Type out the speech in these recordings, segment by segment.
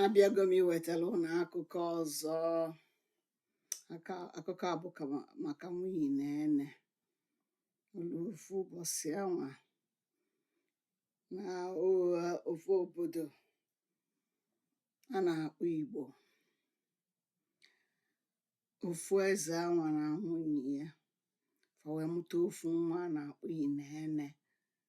abịago m iwetara ụnụ akụkọ ọzọ aka akụkọ a bụ ka ma- maka nwunye na ene olu ofu ụbọsị anwa na ụgha ofu obodo a na-akpọ igbo ofu eze anwa na nwunye ya fa wee mụta ofu nwa a na-akpọ inene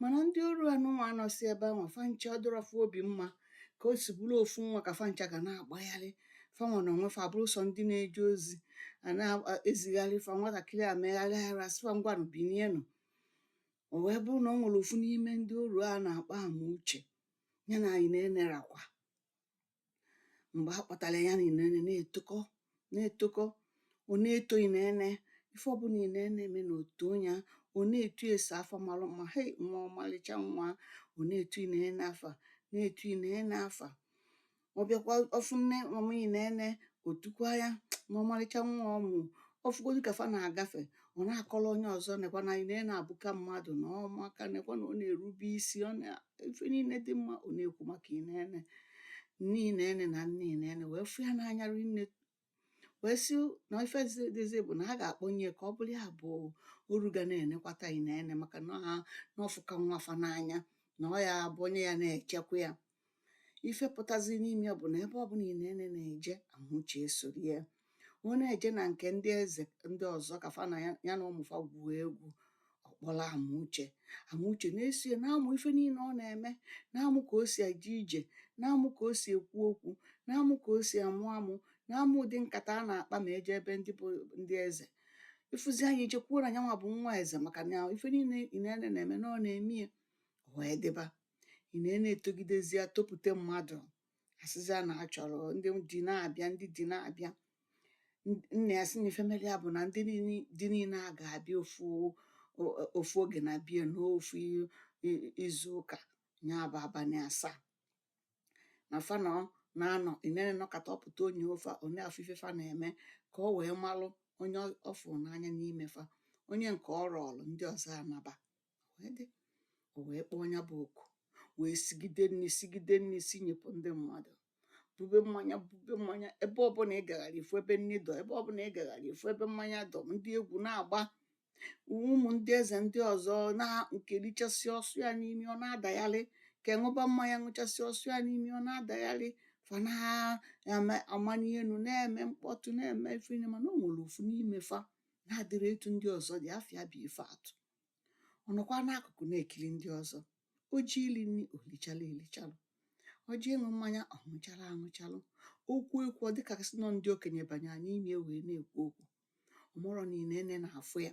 mana ndị oru a nụnwa a nọsị ebe anwa fa ncha ọ dịrọ fa obi mma ka o si bụrụ ofu nwa ka fa ncha ga na-agbagharị fa nwa na onwe fa bụrụ sọ ndị na-eje ozi a na-ezigharị fa nwatakịrị a megharịa arụ a sị fa ngwanụ binienụ o wee bụrụ na o nwere ofu n'ime ndị oru a na-akpọ amuche ya na inene rakwa mgbe a kpọtara ya na inene na-etokọ na-etokọ ọ na-eto inene ife ọbụla inene mee na o too ya ọ na-etu ese afa mara mma hei nwa ọmalịcha nwa ọ na-etu inene afa na-etu inene afa ọ bịakwa ọ fụ nne mama inene o tukwa ya na ọmalịcha nwa ọ mụ ọ fụgodu ka fa na-agafe ọ na-akọrọ onye ọzọ nekwa na inene abụka mmadụ na ọ maka nekwa na ọ na-erube isi ọ na ife niile dị mma ọ na-ekwu maka inene nne inene na nna inene wee fụ ya n'anya rinne wee sị na ife dịzi bụ na a ga-akpọnye ka ọ bụrụ ya bụ oru ga na-enekwata inene maka na na ọ fụka nwa fa n'anya na ọ ya bụ onye ya na-echekwa ya ife pụtazi n'ime ya bụ na ebe ọ bụla inene na-eje amuche esoro ya ọ na-eje na nke ndị eze ndị ọzọ ka fa na ya ya na ụmụ fa gwuo egwu ọ kpọrọ amuche amuche na-eso ya na-amụ ife niile ọ na-eme na-amụ ka o si eje ije na-amụ ka o si ekwu okwu na-amụ ka o si amụ amụ na-amụ ụdị nkata a na-akpa ma eje ebe ndị bụ ndị eze ị fụzia nya i chekwuo na nyanwa bụ nwa eze maka na ife niile inene na-eme na ọ na-eme ya o wee dịba inene etogidezia topute mmadụ a sịzịa na a chọrọ ndị di na-abịa ndị di na-abịa nna ya sị na ife meli ya bụ na ndị di niile a ga-abịa ofu ofu oge na bie n'ofu izu ụka ya bụ abalị asaa na fa na na-anọ inene nọkata ọ pụta o nyo fa ọ na-afụ ife fa na-eme ka o wee malụ onye ọ fụrụ n'anya n'ime fa onye nke ọ rọọlụ ndị ọzọ anaba o wee kpọọ ya bụ oku wee sigide nni sigide nni si nyepụ ndị mmadụ bube mmanya bube mmanya ebe ọbụla ị gagharị ị fụ ebe nni dọ ebe ọbụla ị gagharị ị fụ ebe mmanya dọ ndị egwu na-agba ụmụ ndị eze ndị ọzọ na nke richasị ọ sụ ya n'imi ọ na-adagharị nke ṅụba mmanya ṅụchasị ọ sụ ya n'imi ọ na-adagharị fa na-amani elu na-eme mkpọtụ na-eme ife niile mana o nwere ofu n'ime fa na-adịrọ etu ndị ọzọ dị afa ya bụ ifeatụ ọ nọkwa n'akụkụ na-ekiri ndị ọzọ o ji ili nri o lichalụ elichalụ ọ ji ịṅụ mmanya ọ ṅụchalụ aṅụchalụ okwu ekwu ọ dịka sị nọ ndị okenye banye n'ime wee na-ekwu okwu ọ marọ na Inene na-afụ ya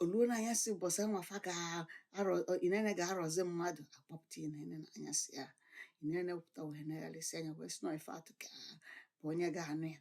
o luo na anyasị ụbọchị anwa fa ga-arọ Inene ga-arọzi mmadụ a kpọpụta Inene na anyasị ya Inene pụta wee negharịsị anya wee sị na ọ Ifeatụ ka bụ onye ga-anụ ya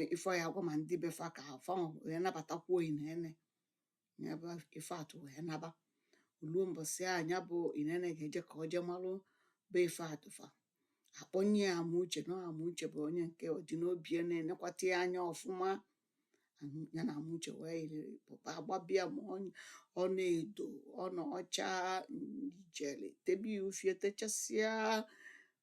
e- ife ọ ya-agwa ma ndị be fa ka fa wee nabatakwuo Inene ya bụ Ifeatụ wee naba o luo mbọsị a ya bụ Inene ga-eje ka ọ jee malụ be Ifeatụ fa a kpọnye ya Amuche na Amuche bụ onye nke ọ dị n'obi ya na-enekwata ya anya ọfụma Am- ya na Amuche wee yiri pụta a gbabe ya ma ọ- ọna edo ọna ọcha ijele tebe ya ufie techasịa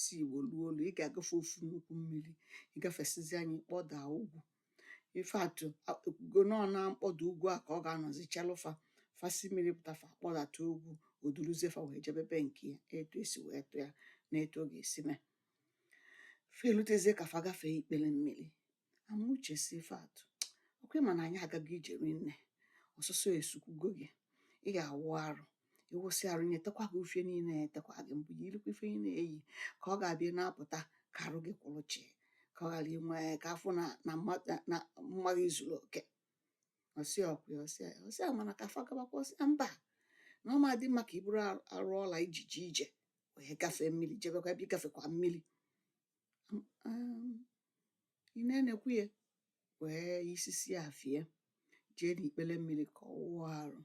si Igbo luo Olu ị ga-agafe ofu nnukwu mmiri ị gafesizia nya ị kpọda ugwu Ifeatụ ekwugo na ọ na mkpọda ugwu a ka ọ ga-anọzi chelụ fa fa si mmiri pụta fa kpọdata ugwu o duruzie fa wee jebe be nke ya etu e si wee tụ ya na etu ọ ga-esi mee fa elutezie ka fa gafee ikpere mmiri Amuche sị Ifeatụ ọkwa ị ma na anyị agago ije rinne ọsụsọ esukwugo gị ị ga-awụ arụ ị wụsịa arụ nya etekwa gị ufie niile etekwa gị mbụ yirikwa ife ị na-eyi ka ọ ga-abụ ị na-apụta ka arụ gị kwụrụ chịị ka ọ ghara inwe ka a fụ na na mma- na- na mma gị zuru oke ọ sị ọkwa ya, ọ sị ya, ọ sị ya mana ka fa gabakwa ọ sị ya mba na ọ ma adị mma ka i buru arụ ọla i ji jee ije wee gafee mmiri jebekwa ebe ị gafekwa mmiri um Inene ekwe ya wee yisisị afe ya jee n'ikpere mmiri ka ọ wụọ arụ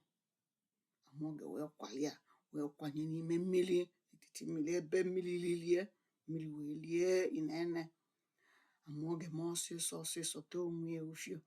Amaoge wee kwali ya wee kwanye n'ime mmiri etiti mmiri ebe mmiri lilie mmiri wee lie Inene Amaoge mee ọsịsọ ọsịsọ tee onwe ya ufie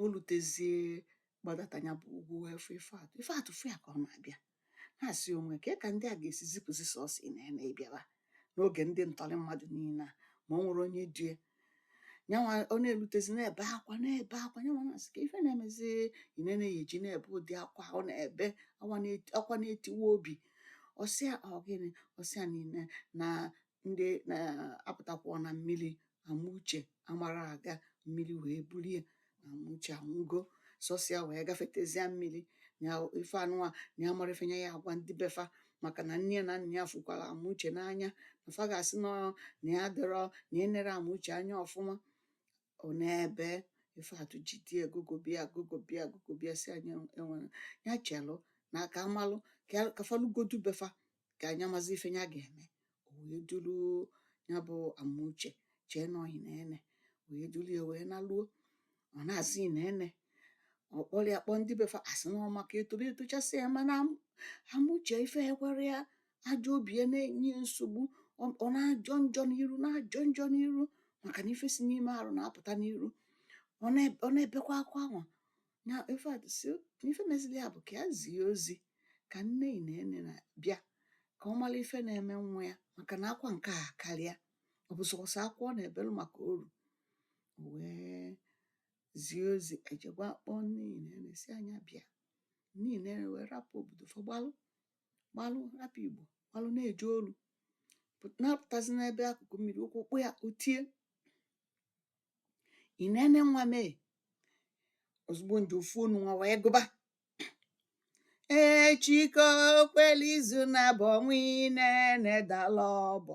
o lutezie gbadata ya bụ ugwu wee fụ Ifeatụ Ifeatụ fụ ya ka ọ na-abịa na-asị onwe kee ka ndị a ga-esi zipụzi sọsọ Inene ịbịaba n'oge ndị ntọrị mmadụ niile a ma o nwerọ onye du ya nyanwa ọ na-elutezi na-ebe akwa na-ebe akwa nyanwa na-asị kee ife na-emezi Inene ya eji na-ebe ụdị akwa ọ na-ebe akwa na-etiwa obi ọ sị ya ọ gịnị ọ sị ya nene na ndị na-apụtakwuo na mmiri Amuche amarọ aga mmiri wee bulu ya na Amuche anwụgo sọsọ ya wee gafetezie mmiri na ife anụwa na ya amarọ ife nya ya-agwa ndị be fa maka na nne na nna ya fụkwara Amuche n'anya na fa ga-asị na ọ na ya adịrọ na-enere Amuche anya ọfụma ọ na-ebe ifeatụ jide ya gụgụba ya gụgụba ya gụgụba ya sị ya nya enwere ya chelụ na a ka-amalụ ka fa lugodu be fa ka nya mazi ife nya ga-eme o wee dulu nya bụ amuche chee na ọ inene wee dulu ya wee naluo ọ na-asị inene ọ kpọlụ ya kpọọ ndị be fa asị na ọ maka etoro etochasị ya mana amuche ife ekwerọ ya ajọ obi ya na-enye nsogbu ọ na-ajọ njọ n'iru na-ajọ njọ n'iru maka na ife si n'ime arụ na-apụta n'iru ọ na-ebekwa akwa anwa na ifeatụ sị ife mezili ya bụ ka ya zie ozi ka nne inene bịa ka ọ malụ ife na-eme nwa ya maka na akwa nke a akarịa ọ bụ sọsọ akwa ọ na-ebelu maka oru wee zie ozi e jee gwa kpọọ nne inene sị ya nya bịa nne inene wee rapụ obodo fa gbalụ gbalụ rapụ igbo gbalụ na-eje olu na-apụtazi n'ebe akụkụ mmiri ụkwụ kpọ ya o tie inene nwa m ee ozigbo nje ofu onu nwa wee gụba echi ka o kwelu izu nabọ nwa inene dala ọbọ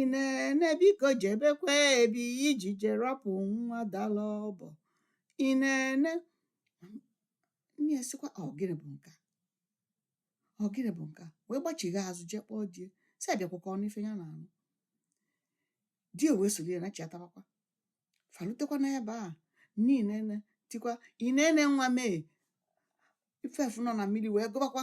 inene biko jebekwa ebe ị ji eje rapụ nwa dala ọbọ inene nne ya sịkwa ọ gịnị bụ nke a ọ gịnị bụ nke a wee gbachigha azụ jee kpọọ di ya sị ya bịakwa ka ọ nụ ife nya na-anụ di ya wee solu ya na chiatabakwa fa lutekwa n'ebe a nne inene tikwa inene nwa m ee ife afụ nọ na mmili wee gụbakwa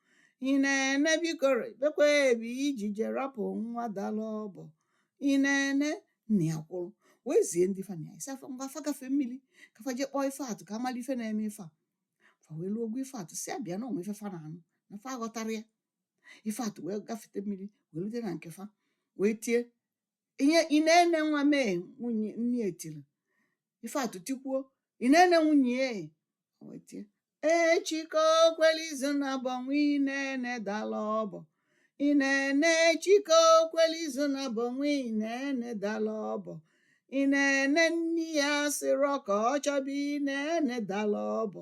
inene biko jebekwa ebe ị ji eje rapụ nwa dala ọbọ inene nna ya kwụrụ wee zie ndị fa na ya yi sị fa ngwa fa gafee mmili ka fa jee kpọọ ifeatụ ka a malụ ife na-eme ife a fa wee luo gwa ifeatụ sị ya bịa na o nwe ife fa na-anụ na fa aghọtarọ ya ifeatụ wee gafete mmili wee lute na nke fa wee tie ihe inene nwa m ee nwunye nne ya tili ifeatụ tikwuo inene nwunye ya wee tie echi ka o kwelu izu nabọ nwa inene dala ọbọ inene echi ka o kwelu izu nabọ nwa inene dala ọbọ inene nne ya asịrọ ka ọ chọba inene dala ọbọ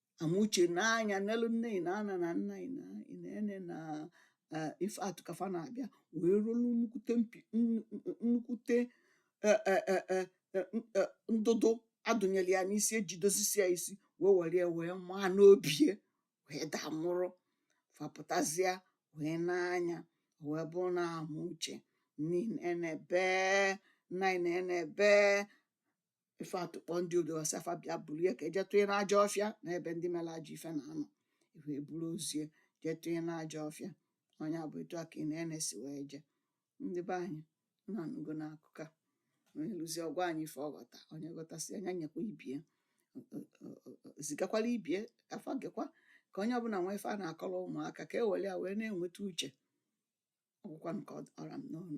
amuche nee anya nelu nne inene na nna ine- inene na eh, ifeatụ ka fa na-abịa wee rọlụ nnukwute mpi nnu- nnu- nnukwute eh, eh, eh, eh, eh, n- eh, ndụdụ a dụnyelụ ya n'isi e ji dozisie ya isi wee were ya wee maa n'obi ya wee daa nwụrụ fa pụtazịa wee nee anya wee bụrụ na amuche nne inene bee nna inene bee ife atụkpọ ndị odogasi afa bịa buru ya ka eje tụnye n'ajọ ọfịa n'ebe ndị mere ajọ ife na-anọ wee buru ozie jee tụnye n'ajọ ọfịa ọ nya bụ etu a ka Inene si wee jee ndị be anyị unu anụgo na akụkọ a onye nụzie ọ gwa anyị ife ọ ghọta onye ghọtasịa nya nyekwa ibie zigakwala ibie ka fa gekwa ka onye ọbụla nwee ife a na-akọrọ ụmụaka ka e were ya wee na-enweta uche ọ gwụkwa nke ọ ra m n'ọnụ